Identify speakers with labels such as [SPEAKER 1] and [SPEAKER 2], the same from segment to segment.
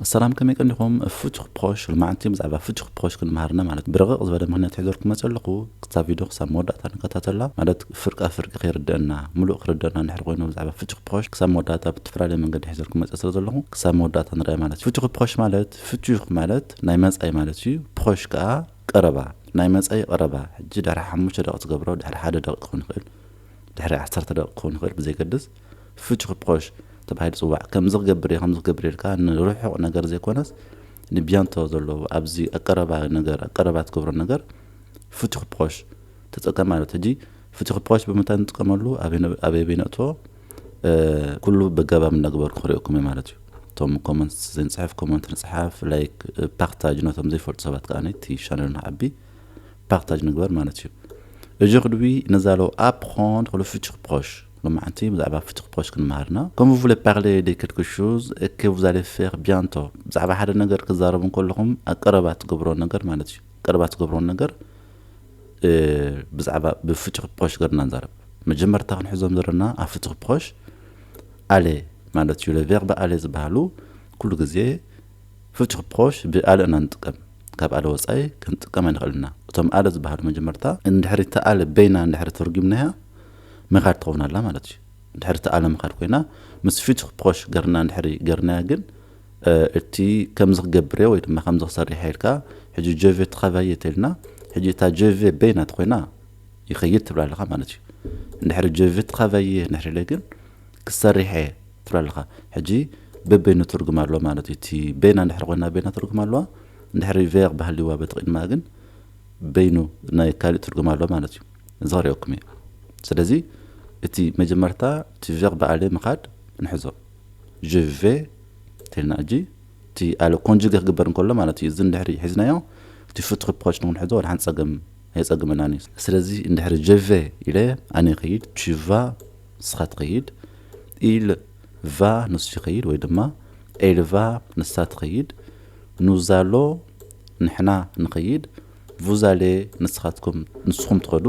[SPEAKER 1] ሰላም ከመይ ቀኒኹም ፍቱሕ ፖሽ ሎማዓንቲ ብዛዕባ ፍቱሕ ፖሽ ክንምሃር እና ማለት ብርቕቕ ዝበለ ምኽንያት ሒዘልኩም መጸ ኣለኹ ክታ ቪድዮ ክሳብ መወዳእታ ንከታተላ ማለት ፍርቃ ፍርቂ ከይርደኣና ምሉእ ክርደኣና እንድሕር ኮይኑ ብዛዕባ ፍቱሕ ፖሽ ክሳብ መወዳእታ ብትፈላለየ መንገዲ ሒዘልኩም መጸ ስለ ዘለኹ ክሳብ መወዳእታ ንርኣያ ማለት ፍቱሕ ፖሽ ማለት ፍቱሕ ማለት ናይ መጻኢ ማለት እዩ ፖሽ ከኣ ቀረባ ናይ መጻኢ ቀረባ ሕጂ ድሕሪ ሓሙሽተ ደቂቅ ትገብሮ ድሕሪ ሓደ ደቂቅ ክኾን ይኽእል ድሕሪ ዓሰርተ ደቂቅ ክኾን ይኽእል ብዘይገድስ ፍቹ ፕሮሽ ተባሂሉ ዝጽዋዕ ከምዚ ክገብር እየ ከምዚ ክገብር እየ ኢልካ ንርሑቕ ነገር ዘይኮነስ ንቢያንቶ ዘሎ ኣብዚ ኣብ ቀረባ ነገር ኣብ ቀረባ ትገብሮ ነገር ፍቹ ፕሮሽ ተጠቀም ማለት ሕጂ ፍቹ ፕሮሽ ብምንታይ ንጥቀመሉ ኣበይ ኣበይ ነእትዎ ኩሉ በገባብ እናግበሩ ክሪኦኩም እየ ማለት እዩ እቶም ኮመንት ዘይንጽሕፍ ኮመንት ንጽሓፍ ላይክ ፓክታጅ ነቶም ዘይፈልጡ ሰባት ከዓ ነቲ ቻነል ንዓቢ ፓክታጅ ንግበር ማለት እዩ Aujourd'hui, nous allons apprendre le futur proche. ሎማዕንቲ ብዛዕባ ፍቱኽ ፖስት ክንመሃር እና ኮም ቭለ ፓርለ ደ ከልክ ሹዝ ከ ቭዛለ ፈር ብያንቶ ብዛዕባ ሓደ ነገር ክዛረቡ እንከለኹም ኣብ ቀረባ ትገብሮ ነገር ማለት እዩ ቀረባ ትገብሮ ነገር ብዛዕባ ብፍቱኽ ፖስት ገርና ንዛረብ መጀመርታ ክንሕዞም ዘለና ኣብ ፍቱኽ ፖስት ኣለ ማለት እዩ ለቨርበ ኣለ ዝበሃሉ ኩሉ ግዜ ፍቱኽ ፖስት ብኣለ እና ንጥቀም ካብ ኣለ ወፃኢ ክንጥቀም ኣይንኽእል ኢና እቶም ኣለ ዝበሃሉ መጀመርታ እንድሕሪ ተኣለ በይና እንድሕሪ ተርጉምናያ መኻድ ትኸውን ኣላ ማለት እዩ እንድሕር ትኣለ መኻድ ኮይና ምስ ፊቱኽ ፖሽ ገርና እንድሕር ገርናያ ግን እቲ ከምዚ ክገብር ወይ ድማ ከምዚ ክሰርሕ ኢልካ ሕጂ ጀቬ ትኸቫየ ተልና ሕጂ እታ ጀቬ በይና ትኮይና ይኸይድ ትብላ ኣለኻ ማለት እዩ እንድሕር ጀቬ ትኸቫየ እንድሕር ኢለ ግን ክሰርሕ እየ ትብላ ኣለኻ ሕጂ በበይኑ ትርጉም ኣሎ ማለት እዩ እቲ በይና እንድሕር ኮይና በይና ትርጉም ኣለዋ እንድሕር ቬር ባህሊዋ በቲ ቅድማ ግን በይኑ ናይ ካልእ ትርጉም ኣሎ ማለት እዩ እዚ ክርእየኩም እየ ስለዚ እቲ መጀመርታ እቲ ቨርብ ኣለ ምኻድ ንሕዞ je vais እንተልና እጂ እቲ ኣለ ኮንጁጌ ክግበር እንከሎ ማለት እዩ እዚ እንድሕሪ ሒዝናዮ እቲ ፍቱር ፕሮች ንክንሕዞ ወደ ሓንቲ ጸገም ኣየጸግመናን እዩ ስለዚ እንድሕሪ je vais ኢለ ኣነ ይኸይድ tu vas ንስኻ ትኸይድ il va ንሱ ይኸይድ ወይ ድማ elle va ንሳ ትኸይድ ኑዛሎ ንሕና ንኸይድ Vous allez ንስኻትኩም፣ ንስኹም ትኸዱ።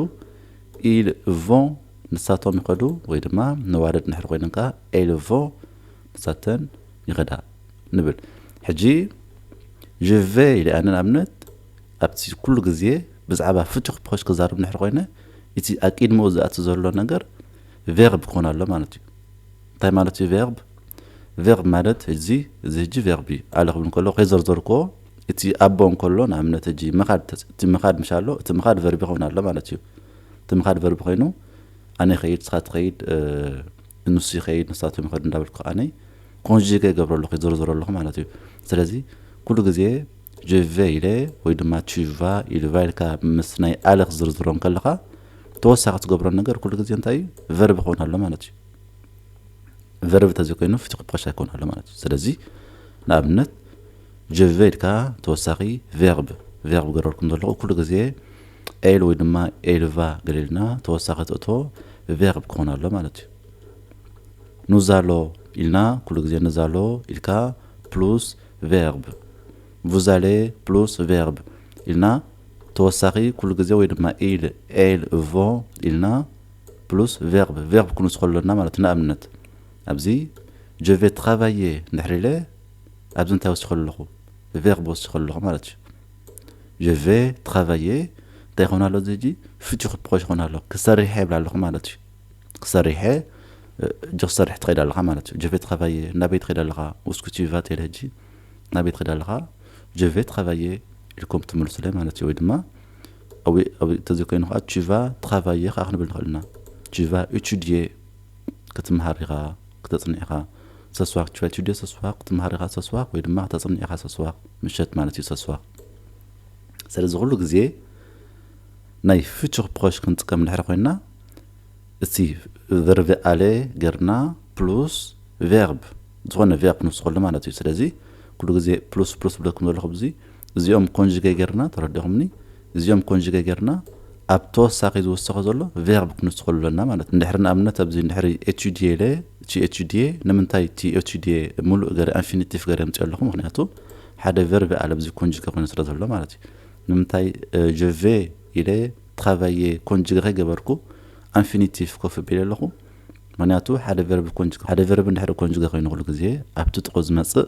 [SPEAKER 1] Ils vont ንሳቶም ይኸዱ ወይ ድማ ነዋልድ እንድሕር ኮይነን ከኣ Elles vont ንሳተን ይኸዳ ንብል። ሕጂ Je vais ኢለ ኣነ ንኣብነት ኣብቲ ኩሉ ግዜ ብዛዕባ ፍቱሕ ፕሮሽ ክዛረብ እንድሕር ኮይነ እቲ ኣቂድምኡ ዝኣቲ ዘሎ ነገር ቨርብ ክኾን ኣሎ ማለት እዩ። እንታይ ማለት እዩ ቨርብ? ቨርብ ማለት እዚ እዚ ሕጂ ቨርብ እዩ። ኣለ ክብል እንከለኹ ከይዘርዘርኩዎ እቲ ኣቦ እንከሎ ንኣብነት ሕጂ ምኻድ ተጽ እቲ ምኻድ ምስ ኣሎ እቲ ምኻድ ቨርቢ ክኸውን ኣሎ ማለት እዩ። እቲ ምኻድ ቨርቢ ኮይኑ ኣነ ይኸይድ ንስኻ ትኸይድ እ ንሱ ይኸይድ ንሳቶም ይኸዱ እንዳበልኩ ኣነ ኮንጂገ ይገብሮ ኣለኹ ይዝርዝሮ ኣለኹ ማለት እዩ። ስለዚ ኩሉ ግዜ je vais ኢለ ወይ ድማ tu vas il va ኢልካ ምስ ናይ ኣለ ክትዝርዝሮ እንከለኻ ተወሳኺ ትገብሮ ነገር ኩሉ ግዜ እንታይ እዩ ቨርቢ ክኸውን ኣሎ ማለት እዩ። ቨርቢ ተዘይኮይኑ ፍቲ ክብቀሻ ይከውን ኣሎ ማለት እዩ። ስለዚ ንኣብነት ጀቨ ኢልካ ተወሳኺ verb፣ ቨርብ፣ ክገብረልኩም ዘለኹ ኩሉ ግዜ ኤል ወይ ድማ ኤልቫ ገሊልና ተወሳኺ ትእቶ verb ክኾን ኣሎ ማለት እዩ። ኑዛሎ ኢልና ኩሉ ግዜ ንዛሎ ኢልካ ፕሉስ verb፣ ቡዛሌ ፕሉስ verb፣ ኢልና ተወሳኺ ኩሉ ግዜ ወይ ድማ ኢል፣ ኤል፣ ቮ ኢልና ፕሉስ verb፣ ቨርብ፣ ክንውስኾ ኣሎና ማለት እዩ። ንኣብነት ኣብዚ ጀቨ ትራቫዬ እንድሕር ኢለ ኣብዚ እንታይ ወሲኹ ኣለኹ ቨርብ ወሲኹ ኣለኹ ማለት እዩ je vais travailler እንታይ ይኾን ኣሎ እዚ ሕጂ ፍቹ ክፕኮሽ ይኾን ኣሎ ክሰሪሐ ይብላ ኣለኹ ማለት እዩ ክሰሪሐ እጅ ክሰርሕ ትኸይድ ኣለኻ ማለት እዩ je vais travailler ናበይ ትኸይድ ኣለኻ ውስኩ ቲቫ ትብል ሕጂ ናበይ ትኸይድ ኣለኻ je vais travailler ኢልኩም ትምልሱለይ ማለት እዩ ወይ ድማ ተዘይኮይኑ ከዓ ቲቫ ትራቫየ ከዓ ክንብል ንኽእል ኢና ቲቫ ኢቱድየ ክትምሃር ኢኻ ክተጽንዕ ኢኻ ሰስዋክ ትሸትሽደ ሰስዋክ ክትመሃር ኢኻ ሰስዋክ ወይ ድማ ክተጽንዕ ኢኻ ሰስዋክ ምሸት ማለት እዩ ሰስዋክ ሰለዚ ኩሉ ግዜ ናይ ፍቹክ ፕሮሽ ክንጥቀም እንድሕር ኮይና እቲ ቨርቭ ኣለ ገርና ፕሉስ ቨርብ ዝኾነ ቨርብ ክንውስኸሉ ማለት እዩ ስለዚ ኩሉ ግዜ ፕሉስ ፕሉስ ብለኩም ዘለኹ ብዙይ እዚኦም ኮንጅገ ጌርና ተረዲኹምኒ እዚኦም ኮንጅገ ጌርና ኣብ ተወሳኺ ዝውሰኾ ዘሎ ቬርብ ክንውስኸሉ ኣለና ማለት እንድሕሪ ንኣብነት ኣብዚ እንድሕሪ ኤችዲኤ ለ እቲ ኤችዲኤ ንምንታይ እቲ ኤችዲኤ ሙሉእ ገረ ኣንፊኒቲፍ ገረ ምፅ ኣለኹ ምክንያቱ ሓደ ቨርብ ኣለ ኣብዚ ኮንጅገ ኮይኑ ስለ ዘሎ ማለት እዩ ንምንታይ ጀቬ ኢለ ትራቫየ ኮንጅገ ከይገበርኩ ኣንፊኒቲፍ ኮፍ ቢለ ኣለኹ ምክንያቱ ሓደ ቨርብ ኮንጅገ ሓደ ቨርብ እንድሕሪ ኮንጅገ ኮይኑ ኩሉ ግዜ ኣብቲ ጥቁ ዝመፅእ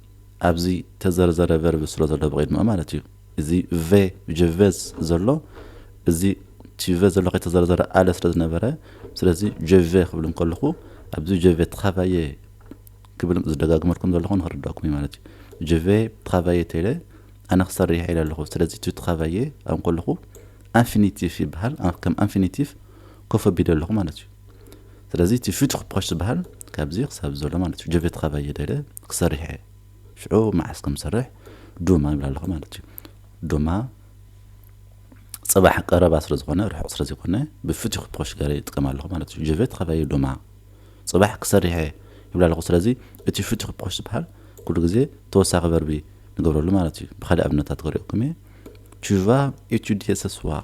[SPEAKER 1] ኣብዚ ተዘርዘረ ቨርብ ስለ ዘሎ ብቕድሚኡ ማለት እዩ። እዚ ቨ ጀ ቨዝ ዘሎ እዚ ቲቨ ዘሎ ከይተዘርዘረ ኣለ ስለ ዝነበረ ስለዚ ጀቨ ክብል እንከለኹ ኣብዚ ጀቨ ትኻባየ ክብል ዝደጋግመልኩም ዘለኹ ንክርዳእኩም እዩ ማለት እዩ። ጀቨ ትኻባየ ተለ ኣነ ክሰርሕ ኢለ ኣለኹ ስለዚ እቲ ትኻባየ ኣብ ከለኹ ኣንፊኒቲቭ ይበሃል ከም ኣንፊኒቲቭ ኮፍ ኣቢለ ኣለኹ ማለት እዩ ስለዚ እቲ ፊት ክፖሽ ዝበሃል ካብዚ ክሳብ ዘሎ ማለት እዩ ጀቤት ካባይ የደለ ክሰርሕ እየ ሽዑ መዓስ ከም ዝሰርሕ ዱማ ይብላ ኣለኹ ማለት እዩ ዱማ ጽባሕ ቀረባ ስለ ዝኾነ ርሑቕ ስለ ዘይኮነ ብፍትሒ ክፖሽ ገረ ይጥቀም ኣለኹ ማለት እዩ ጀቤት ካባይ ዱማ ጽባሕ ክሰርሕ እየ ይብላ ኣለኹ ስለዚ እቲ ፍትሒ ክፖሽ ዝበሃል ኩሉ ግዜ ተወሳኺ ቨርቢ ንገብረሉ ማለት እዩ ብካልእ ኣብነታት ክሪኦኩም እየ ቹቫ ኤቱዲየ ሰስዋር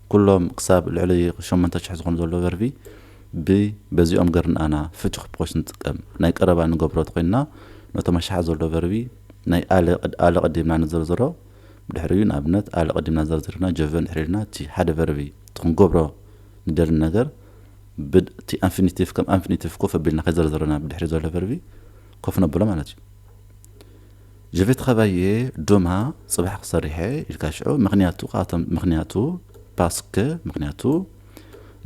[SPEAKER 1] ኩሎም ክሳብ ልዕሊ ሸሞንተ ሽሕ ዝኾኑ ዘለዉ ቨርቢ ብ በዚኦም ገር ንኣና ፍቱሕ ፖሽ ንጥቀም። ናይ ቀረባ ንገብሮ ተኾይንና ነቶም ኣሽሓት ዘለዉ ቨርቢ ናይ ኣለ ቅድ ኣለ ቀዲምና ንዘርዝሮ ብድሕሪኡ ንኣብነት ኣለ ቀዲምና ዘርዚርና ጀቨ እንድሕር ኢልና እቲ ሓደ ቨርቢ እቲ ክንገብሮ ንደሊ ነገር ብ እቲ ኣንፊኒቲቭ ከም ኣንፊኒቲቭ ኮፍ ኣቢልና ከይዘርዘርና ብድሕሪኡ ዘሎ ቨርቢ ኮፍ ነብሎ ማለት እዩ። ጀፌት ኻባየ ዶማ ጽባሕ ክሰርሔ ኢልካ ሽዑ ምኽንያቱ ኻቶም ምኽንያቱ ፓስክ ምኽንያቱ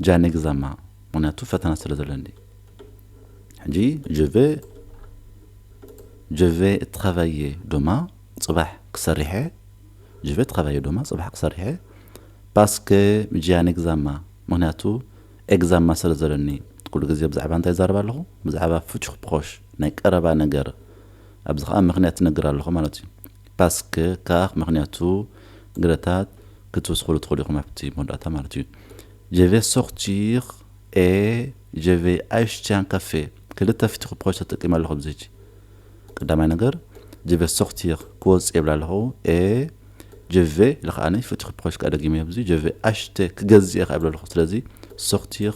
[SPEAKER 1] ጃኔ ግዛማ ምኽንያቱ ፈተና ስለ ዘለኒ ሕጂ ጀቨ ጀቨ እትኻባየ ዶማ ጽባሕ ክሰርሔ ጀቨ እትኻባየ ዶማ ጽባሕ ክሰርሔ ፓስክ ጃኔ ግዛማ ምኽንያቱ ኤግዛማ ስለ ዘለኒ ኩሉ ግዜ ብዛዕባ እንታይ ዛረባ ኣለኹ ብዛዕባ ፍቹኽ ፕሮሽ ናይ ቀረባ ነገር ኣብዚ ከኣ ምክንያት ትነግር ኣለኹ ማለት እዩ ፓስክ ካክ ምክንያቱ ግረታት ክትውስክሉ ትኽእሉ ኢኹም ኣብቲ መወዳእታ ማለት እዩ ጀቨ ሶክቲር ኤ ጀቨ ኣይሽቲያን ካፌ ክልተ ፍትኹ ፕሮች ተጠቂመ ኣለኹ ኣብዚ ሕጂ ቀዳማይ ነገር ጀቨ ሶክቲር ክወፅ የብላ ኣለኹ ኤ ጀቨ ኢለ ከዓኒ ፍትኹ ፕሮች ከዓ ደጊመ ኣብዚ ጀቨ ኣሽተ ክገዝእ እየ ከዓ ይብለ ኣለኹ ስለዚ ሶክቲር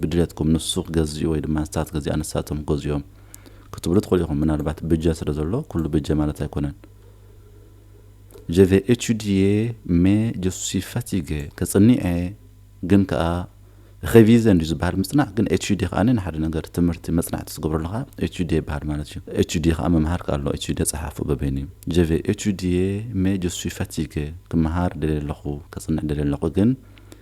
[SPEAKER 1] ብድሌትኩም ንሱ ክገዝኡ ወይ ድማ ንሳ ክትገዝኣ ንሳቶም ክገዝኡ'ዮም ክትብሉ ትኽእሉ ኢኹም። ምናልባት ብጀ ስለ ዘሎ ኩሉ ብጀ ማለት ኣይኮነን። Je vais étudier mais je suis fatigué ከጽን'የ ግን ከኣ ሬቪዘ እንድዩ ዝበሃል ምጽናዕ ግን ኤቱዴ ከኣ ንሓደ ነገር ትምህርቲ መጽናዕቲ ዝገብሮ ኣለኻ ኤቱዴ ይበሃል ማለት እዩ ኤቱዴ ከኣ ምምሃር ከኣ ኣሎ ኤቱዴ ጸሓፉ በበይኑ እዩ ጀቨ ኤቱዴ ሜ ጀሱይ ፋቲገ ክመሃር ደልየ ኣለኹ ከጽንዕ ደልየ ኣለኹ ግን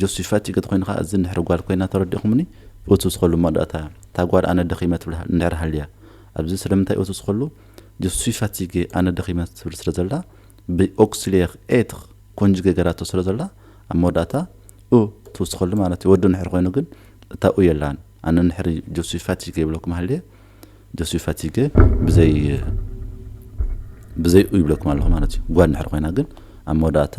[SPEAKER 1] ጆሲፋ ጭግጥ ኮይንኻ እዚ እንድሕር ጓል ኮይና ተረዲእኹምኒ እቱስ ኸሉ መወዳእታ እታ ጓል ኣነ ደኺመ ትብል እንድሕር ሃልያ ኣብዚ ስለምንታይ እቱስ ኸሉ ጆሲፋ ቲጌ ኣነ ደኺመ ትብል ስለ ዘላ ብ ኦክስሌር ኤትር ኮንጅጌ ገራቶ ስለ ዘላ ኣብ መወዳእታ እ ትውስ ኸሉ ማለት እዩ ወዱ እንድሕር ኮይኑ ግን እታ ኡ የላን ኣነ እንድሕር ጆሲፋ ቲጌ ይብለኩም ሃልየ ጆሲፋ ቲጌ ብዘይ ብዘይ ኡ ይብለኩም ኣለኹ ማለት እዩ ጓል እንድሕር ኮይና ግን ኣብ መወዳእታ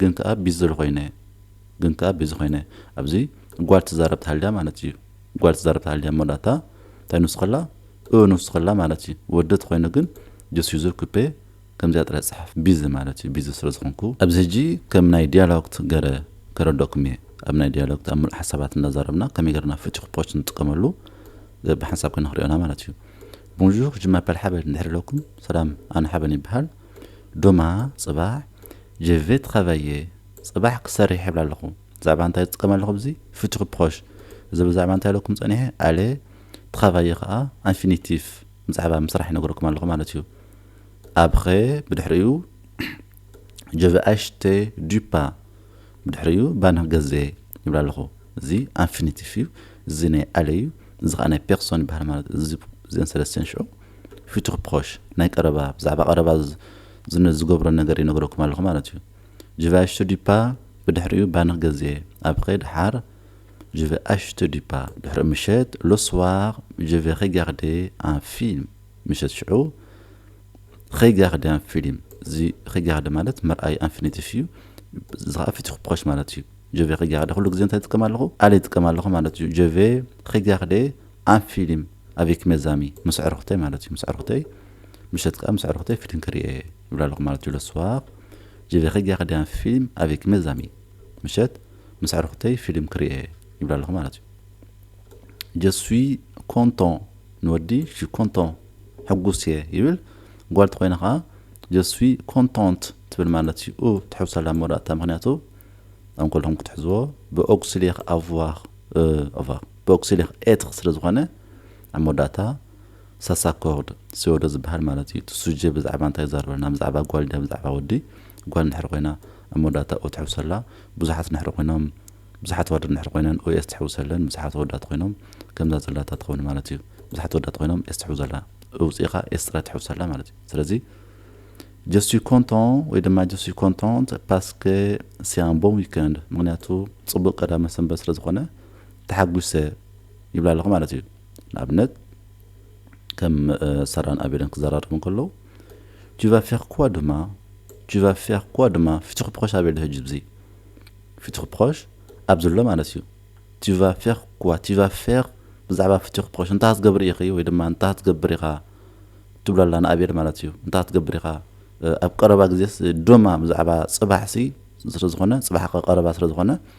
[SPEAKER 1] ግን ከኣ ቢዝል ኮይነ ግን ከኣ ቢዚ ኮይነ ኣብዚ ጓል ትዛረብ ተሃልያ ማለት እዩ ጓል ትዛረብ ተሃልያ እሞ ዳታ እንታይ ንሱ ከላ እ ንሱ ከላ ማለት እዩ ወዲ ተኮይኑ ግን ጅስ ዩዘር ኩፔ ከምዚኣ ጥራይ ጽሓፍ ቢዚ ማለት እዩ ቢዚ ስለ ዝኮንኩ ኣብዚ ሕጂ ከም ናይ ዲያሎግት ገረ ከረደኩም እየ ኣብ ናይ ዲያሎግት ኣብ ምሉእ ሓሳባት እንዳዛረብና ከመይ ገርና ፍቺ ኩፖች ንጥቀመሉ ብሓንሳብ ክንክሪኦና ማለት እዩ Bonjour je m'appelle ሓበን እንድሕር ኢለኩም ሰላም ኣነ ሓበን ይብሃል ዱማ ጽባሕ ጅቪት ኸበየ ጽባሕ ክሰርሕ ይብል ኣለኹ ብዛዕባ እንታይ ዝጥቀም ኣለኹ ብዚ ፊቱር ፕሮሽ እዚ ብዛዕባ እንታይ ኣለኩም ጸኒሐ ኣለ ትኸበየ ኸኣ ኣንፊኒቲፍ ብዛዕባ ምስራሕ ይነግረኩም ኣለኹ ማለት እዩ ኣብኸ ብድሕሪኡ ጀቨ ኣሽተ ዱፓ ብድሕሪኡ ባንህ ገዘ ይብል ኣለኹ እዚ ኣንፊኒቲፍ እዩ እዚ ናይ ኣለ እዩ እዚ ከዓ ናይ ፔርሶን ይበሃል ማለት እዚ እዚን ሰለስተን ሽዑ ፊቱር ፕሮሽ፣ ናይ ቀረባ፣ ብዛዕባ ቀረባ ዝነ ዝገብሮ ነገር ይነግረኩም ኣለኹ ማለት እዩ። ጅቨ ኣሽቱ ዲፓ ብድሕሪኡ ባንኽ ገዜ ኣብዄ ደሓር ጅቨ ኣሽቱ ዲፓ ድሕሪኡ ምሸት ሎስዋር ጅቨ ዄጋርዴ ኣን ፊልም ምሸት ሽዑ ዄጋርዴ ኣን ፊልም እዚ ዄጋርዴ ማለት ምርኣይ ኣንፊኒቲፍ እዩ። እዚ ኸዓ ፊቱር ፕሮሽ ማለት እዩ። ጅቨ ዄጋርዴ ኩሉ ግዜ እንታይ ይጥቀም ኣለኹ? ኣለ ይጥቀም ኣለኹ ማለት እዩ። ጅቨ ዄጋርዴ ኣብ ፊሊም ኣቪክ መዛሚ ምስ ኣዕርኹተይ ማለት እዩ ምስ ኣዕርኹተይ ምሸት ከኣ ምስ ኣዕርኹተይ ፊሊም ክሪኢ እየ ይብላ ኣለኹ ማለት እዩ ለስዋቅ ጀቤኸ ጊያ ከዲያ ፊሊም ኣቪክ መዛሚ ምሸት ምስ ኣዕርኹተይ ፊሊም ክሪኢ እየ ይብላ ኣለኹ ማለት እዩ ጀስዊ ኮንቶን ንወዲ ሺ ኮንቶን ሕጉስ እየ ይብል ጓል ተኮይና ከኣ ጀስዊ ኮንቶንት ትብል ማለት እዩ ኡ ትሕውሳላ ኣብ መወዳእታ ምክንያቱ ኣብ ከለኹም ክትሕዝዎ ብኦግስሌኽ ኣቭዋኽ ኣቫ ቦክሲሊክ ኤትክ ስለ ዝኾነ ኣብ መወዳእታ ሳሳኮርድ ስዮዶ ዝበሃል ማለት እዩ። እቲ ሱጀ ብዛዕባ እንታይ ይዛረበና? ብዛዕባ ጓል ድያ ብዛዕባ ወዲ? ጓል እንድሕር ኮይና ኣብ መወዳእታ ኦ ትሕውሰላ። ብዙሓት እንድሕር ኮይኖም ብዙሓት ኣዋልድ እንድሕር ኮይነን ኦ ኤስ ትሕውሰለን። ብዙሓት ኣወዳት ኮይኖም ከምዛ ዘላታ ትኸውን ማለት እዩ። ብዙሓት ኣወዳት ኮይኖም ኤስ ትሕውዘላ። እውጺእኻ ኤስ ጥራይ ትሕውሰላ ማለት እዩ። ስለዚ Je suis content ወይ ድማ Je suis contente parce que c'est un bon week-end ምክንያቱ ጽቡቕ ቀዳመ ሰንበት ስለ ዝኾነ ተሓጒሰ ይብላ ኣለኹ ማለት እዩ። ንኣብነት ከም ሰራን ኣቤልን ክዘራረቡ እንከለዉ tu vas faire quoi demain tu vas faire quoi demain ፊትኹ ፕሮሽ ኣቤል ሕጂ ብዚ ፊትኹ ፕሮሽ ኣብ ዘሎ ማለት እዩ tu vas faire quoi tu vas faire ብዛዕባ ፍትሒ ክፕሮሽ እንታይ ክትገብር ኢኺ ወይ ድማ እንታይ ክትገብር ኢኻ ትብሎ ኣላ ንኣብየል ማለት እዩ እንታይ ክትገብር ኢኻ ኣብ ቀረባ ግዜስ ዶማ ብዛዕባ ፅባሕሲ ስለዝኾነ ፅባሕ ቀረባ ስለዝኾነ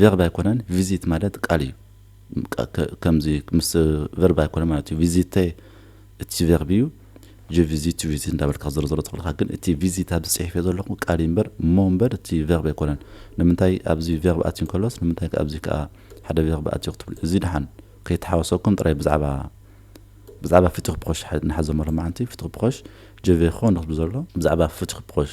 [SPEAKER 1] ቨርብ ኣይኮነን ቪዚት ማለት ቃል እዩ ከምዚ ምስ ቨርብ ኣይኮነ ማለት እዩ ቪዚተ እቲ ቨርብ እዩ ጀ ቪዚት ቱ ቪዚት እንዳበልካ ክዘረዘሮ ትኽእል ኢኻ ግን እቲ ቪዚት ኣብዚ ፅሒፈ ዘለኹ ቃል እዩ እምበር እሞ እምበር እቲ ቨርብ ኣይኮነን ንምንታይ ኣብዚ ቨርብ ኣትዩ እንከሎስ ንምንታይ ኣብዚ ከዓ ሓደ ቨርብ ኣትዩ ክትብሉ እዚ ድሓን ከይተሓወሰኩም ጥራይ ብዛዕባ ብዛዕባ ፍትኽ ፕኾሽ ንሓዘ መሎ መዓንቲ ፍትኽ ፕኾሽ ጀቬ ኾ ንክትብሉ ዘሎ ብዛዕባ ፍትኽ ፕኾሽ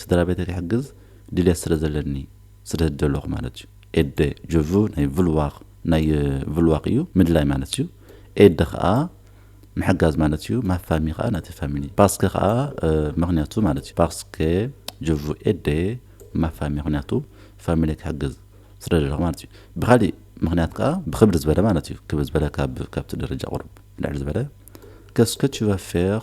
[SPEAKER 1] ስድራ ቤተይ ክሕግዝ ድልየት ስለ ዘለኒ ስደት ደለኹ ማለት እዩ ኤደ ጀ ቭ ናይ ቭልዋኽ ናይ ቭልዋኽ እዩ ምድላይ ማለት እዩ ኤደ ከኣ ምሕጋዝ ማለት እዩ ማፋሚ ከኣ ናቲ ፋሚሊ ፓስከ ከኣ ምክንያቱ ማለት እዩ ፓስከ ጀ ቭ ኤደ ማፋሚ ምክንያቱ ፋሚሊ ክሕግዝ ስለ ደለኹ ማለት እዩ ብካሊእ ምክንያት ከኣ ብክብድ ዝበለ ማለት እዩ ክብድ ዝበለ ካብ ካብቲ ደረጃ ቁሩብ ልዕል ዝበለ ከስከ ችቫ ፌር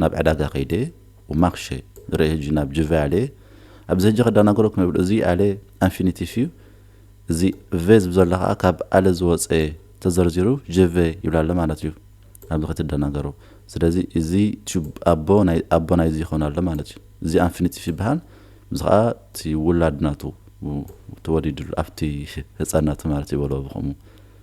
[SPEAKER 1] ናብ ዕዳጋ ከይደ ኡማክሸ ንረኢ ህጂ ናብ ጅቨ ኣልየ ኣብዚ ህጂ ከዳናግረኩም የብሉ እዚ ኣለ ኣንፊኒቲፍ እዩ እዚ ቨ ዝብ ዘሎ ከኣ ካብ ኣለ ዝወጸ ተዘርዚሩ ጅቨ ይብላ ኣለ ማለት እዩ ኣብዚ ከትደናገሩ ስለዚ እዚ ቱብ ኣቦ ናይ ኣቦ ናይዚ ይኮን ኣሎ ማለት እዩ እዚ ኣንፊኒቲፍ ይበሃል እዚ ከኣ እቲ ውላድ ናቱ ተወሊድሉ ኣብቲ ህጻን ናቱ ማለት ይበሎ ብከምኡ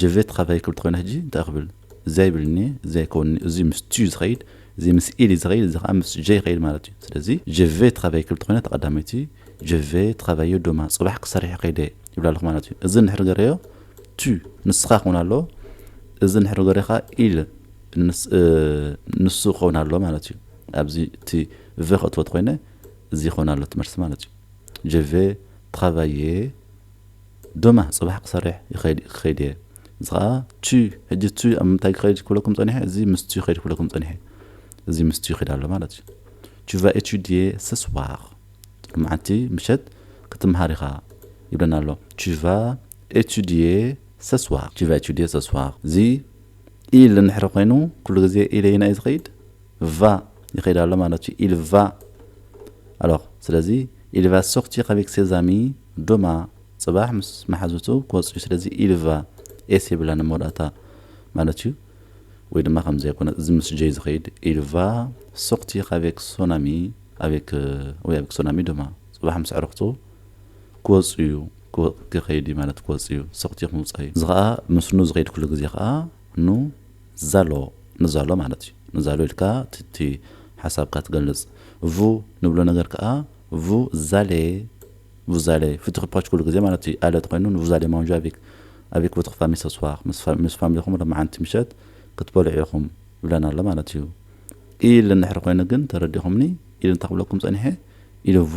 [SPEAKER 1] ጀቨት ኻብታይ ክብል ተኾይነ ሕጂ እንታይ ክብል እዚይ ይብልኒ እዚይ ኣይከውንኒ እዙይ ምስ ቱ ዝኸይድ እዙይ ምስ ኢል እዩ ዝኸይድ እዙይ ኻዓ ምስ ጀ ይኸይድ ማለት እዩ ስለዚ ጀቨት ኻብታይ ክብል ተኾይነ ተቐዳመይቲ ጀቨት ኻባዮ ዶማ ፅባሕ ክሰርሕ ኸይደ ይብላ ኣለኹ ማለት እዩ እዚ ንድሕሪ ገረዮ ቱ ንስኻ ክኾን ኣሎ እዚ ንድሕሪ ገረዮ ኻዓ ኢል ንሱ ክኸውን ኣሎ ማለት እዩ ኣብዚ እቲ ቨ ከእትዎ ተኾይነ እዚ ይኸውን ኣሎ ትመልሲ ማለት እዩ ጀቨ ትኻባየ ደማ ጽባሕ ክሰርሕ ይኸይድ ክኸይድ እየ እዚ ከኣ ቹይ ሕጂ ቹይ ኣብ ምንታይ ክኸይድ ክብለኩም ጸኒሐ እዚ ምስ ቹይ ክኸይድ ክብለኩም ጸኒሐ እዚ ምስ ቹይ ክኸይድ ኣሎ ማለት እዩ ቹ ቫ ኤቹዲየ ሰስዋር መዓልቲ ምሸት ክትምሃር ኢኻ ይብለና ኣሎ ቹ ቫ ኤቹዲየ ሰስዋር ቹ ቫ ኤቹዲየ ሰስዋር እዚ ኢል እንሕረ ኮይኑ ኩሉ ግዜ ኢለይና እዩ ዝኸይድ va ይኸይድ ኣሎ ማለት እዩ ኢል ቫ ኣሎር ስለዚ ኢል ቫ ሶርቲር ኣቬክ ሴዝ ኣሚ ዶማ ጽባሕ ምስ መሓዙቱ ክወጽእ እዩ ስለዚ ኢል ቫ ኤስ የብላ ንመወዳእታ ማለት እዩ ወይ ድማ ከምዚ ኣይኮነ እዚ ምስ ጀይ ዝኸይድ ኢል ቫ ሶርቲር ኣቬክ ሶን ኣሚ ኣቬክ ወይ ኣቬክ ሶን ኣሚ ዶማ ጽባሕ ምስ ኣዕርኽቱ ክወጽእ እዩ ክኸይድ እዩ ማለት ክወጽእ እዩ ሶርቲር ምውጻእ እዩ እዚ ኸኣ ምስኑ ዝኸይድ ኩሉ ግዜ ኸኣ ን ዛሎ ንዛሎ ማለት እዩ። ንዛሎ ኢልካ እቲ ሓሳብካ ትገልጽ። ቭ ንብሎ ነገር ከኣ ቭ ዛሌ፣ ቭዛሌ፣ ፍትክፓች ኩሉ ግዜ ማለት እዩ። ኣለት ኮይኑ ን ቭዛሌ ማንዣ ኣቪክ፣ ኣቪክ ቮትር ፋሚል ሰስዋር፣ ምስ ፋሚሊኹም ሎማዓንቲ ምሸት ክትበልዑ ኢኹም ይብለና ኣሎ ማለት እዩ። ኢል እንድሕር ኮይኑ ግን ተረዲእኹምኒ፣ ኢል እንታይ ክብለኩም ጸኒሐ፣ ኢል ቮ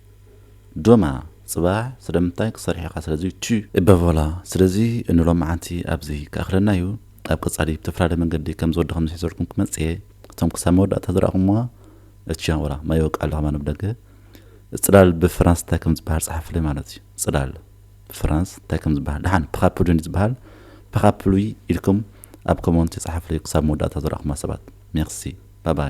[SPEAKER 1] ዶማ ጽባሕ ስለምንታይ ክትሰርሕ ኢኻ ስለዚ ቹ። እበቮላ ስለዚ ንሎምዓንቲ ኣብዚ ክኣኽለና እዩ ኣብ ቀጻሊ ብተፈላለየ መንገዲ ከም ዝወደኹም ዝሒዘልኩም ክመጽእ እየ እቶም ክሳብ መወዳእታ ዝረኣኹምዋ እቺ ወላ ማይ ይወቅዕ ኣለኹ ማንም ደገ ጽላል ብፍራንስ እንታይ ከም ዝበሃል ጸሓፍለይ ማለት እዩ ጽላል ብፍራንስ እንታይ ከም ዝበሃል ደሓን ፓካፕሉይ እንድዩ ዝበሃል ፓካፕሉይ ኢልኩም ኣብ ኮሞንቲ ጸሓፍለይ ክሳብ መወዳእታ ዝረኣኹማ ሰባት ሜርሲ ባባይ